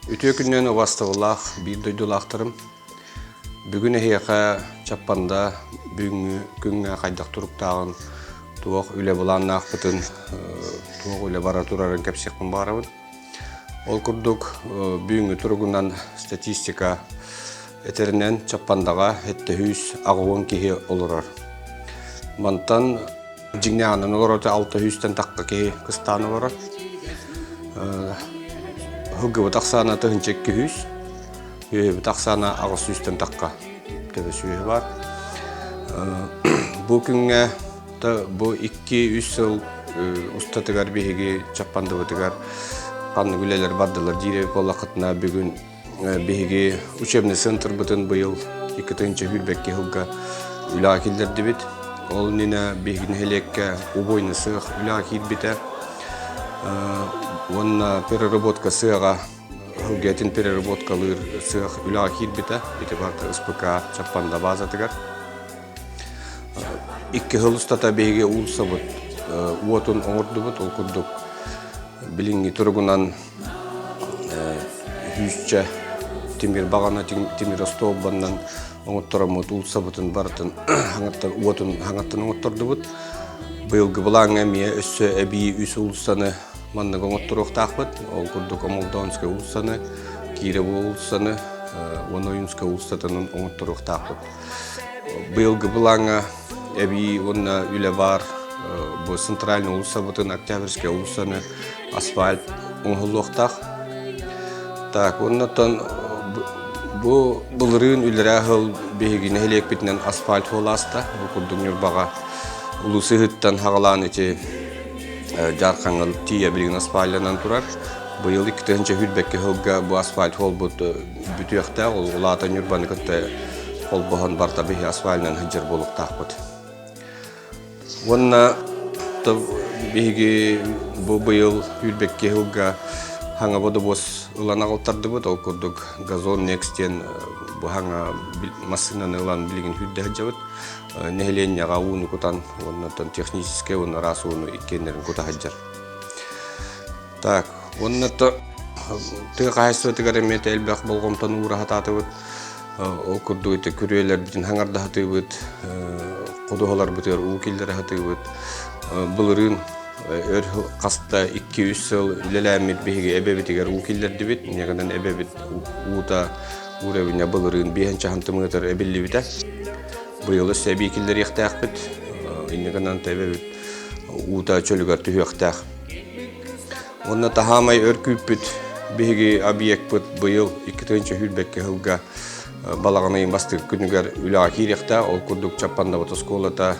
Үтүө күннэн убастабылаах биир дойдулаахтарым бүгүн эһиэхэ Чаппанда бүгүҥҥү күҥҥэ хайдах туруктааҕын туох үлэ былааннаахпытын туох үлэ бара турарын кэпсиэхпин баҕарабын Ол курдук бүгүҥҥү туругунан статистика этэринэн Чаппандаҕа эттэһүүс аҕыйын киһи олорор. Мантан дьиҥнээҕинэн олороро алта сүүстэн тахха киһи кыстаан олорор. Һылгыбыт ахсаана тыһынча икки сүүс, үөһүбүт ахсаана аҕыс сүүстэн тахха төбө сүөһү бар. Бу күҥҥэ Бу икки-үс сыл устатыгар биһиги Чаппандыбытыгар ханнык үлэлэр бардылар диир буоллахытына бүгүн биһиги учебный центрбытын быйыл иккитинчи хүрбэкки сылга үлэҕэ киллэрдибит. Ол иннинэ биһиги нэһилиэккэ убойный сыах үлэҕэ киирбитэ уонна переработка сыаҕа сылгэтин переработкалыыр сыах үлэҕэ киирбитэ. Ити барыта СПК Чаппанда баазатыгар. Икки сыл устата биһиги уулуссабыт уотун оҥордубут. Ол курдук билиҥҥи туругунан сүүсчэ тимир баҕана тимир остуолбаннан оҥоттороммут уулуссабытын барытын уотун оҥоттордубут. Быйылгы былааҥҥа эмиэ өссө эбии үс уулуссаны маннык оҥотторуохтаахпыт. Ол курдук Омолдоонскай уулуссаны, Кирово уулуссаны, уон Ойуунскай уулуссатын оҥотторуохтаахпыт. Быйылгы былааҥҥа эбии уонна үлэ баар бу центральнай уулуссабытын Октябрьскай уулуссаны асфальт оҥоһуллуохтаах. Так, оннуттан бу былырыын үллэрээ сыл биһиги нэһилиэкпитинэн асфальт хуолааста. Бу курдук Ньурбаҕа улуус ыһыттан хаҕалаан ити Дьаархаҥҥа тиийэ билигин асфальтанан турар. Быйыл икки тыһыынча үүрбэккэ сылга бу асфальт холбут бүтүөхтээх, ол аата Ньурбаны кытта холбоһон барта биһи асфальынан сылдьар буолуктаахпыт. Уонна биһиги бу быйыл үүрбэкки сылга хаҥа бодобуос ылан аҕалтардыбыт, ол курдук газон next диэн быһаҥа массыынаны ылан билигин хүрдэ сылдьабыт. Нэһилиэнньэҕэ ууну кутан, уонна техническэй уонна араас ууну иккиэннэрин кута сылдьар. Так, уонна то тыа хаһайыстыбатыгар эмиэ элбэх болҕомтону уураһатаатыбыт. Ол курдук ити күрүөлэрбитин хаҥардаһатыыбыт, ходуһаларбытыгар уу киллэрэ сатыыбыт. Былырыын өр хаста икки-үс сыл үлэлээммит биһиги эбэбитигэр уу киллэрдибит. Инньэҕинэн эбэбит уута уурэбинэ былырыын биэһинчэ хантымыатыр эбиллибитэ. Быйыл өссө эбии киллэриэхтээхпит. Инньэҕинэн эбэбит уута чөлүгэр түһүөхтээх. Уонна таһаамай өр күүппүт биһиги объекпыт быйыл икки тыһыынча сүүрбэккэ сылга балаҕаны бастыыр күнүгэр үлэҕэ киириэхтээх. Ол курдук Чаппандабыт оскуолата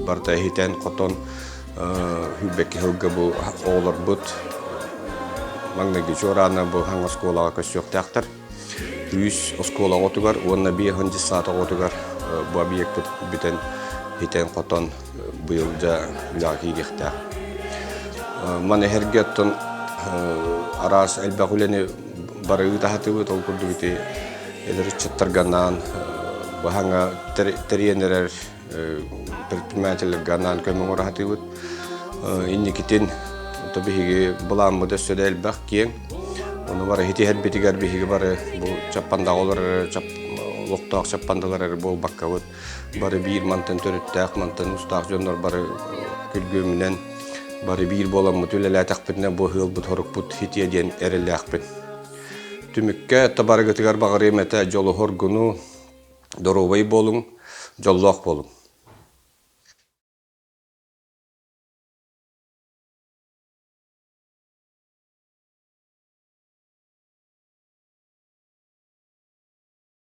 барыта иһитэн-хотон сүүрбэккэ сылга бу оҕолорбут маҥнайгы чуораана бу хаҥ оскуолаҕа көссүөхтээхтэр. Үүс оскуола оҕотугар уонна биэс уон десант оҕотугар бу объекпыт бүтэн, итэн-хотон быйылга үлэҕэ киириэхтээх. Маны эһэрге оттон араас элбэх үлэни бары ыытаһатыбыт, ол курдук ити эдэр ыччаттарга анаан баһаҥа тэрийэн эрэр предпринимательлэргэ анаан көмө оҥораһытыыбыт инникитин то биһиги былааммыт өссө да элбэх киэҥ ону бары итиһэрбитигэр биһиги бары бу чаппандаҕа олор олохтоох чаппандалар эрэ буолбаккабыт бары биир мантан төрүттээх мантан устаах дьоннор бары күргүөмүнэн бары биир буоламмыт үлэлээтэхпитинэ бу ыалбыт хорукпут хитиэ диэн эрэлээхпин түмүккэ табарыгытыгар баҕарыам этэ дьолоһоргуну доруобай буолуҥ, дьоллоох буолуҥ!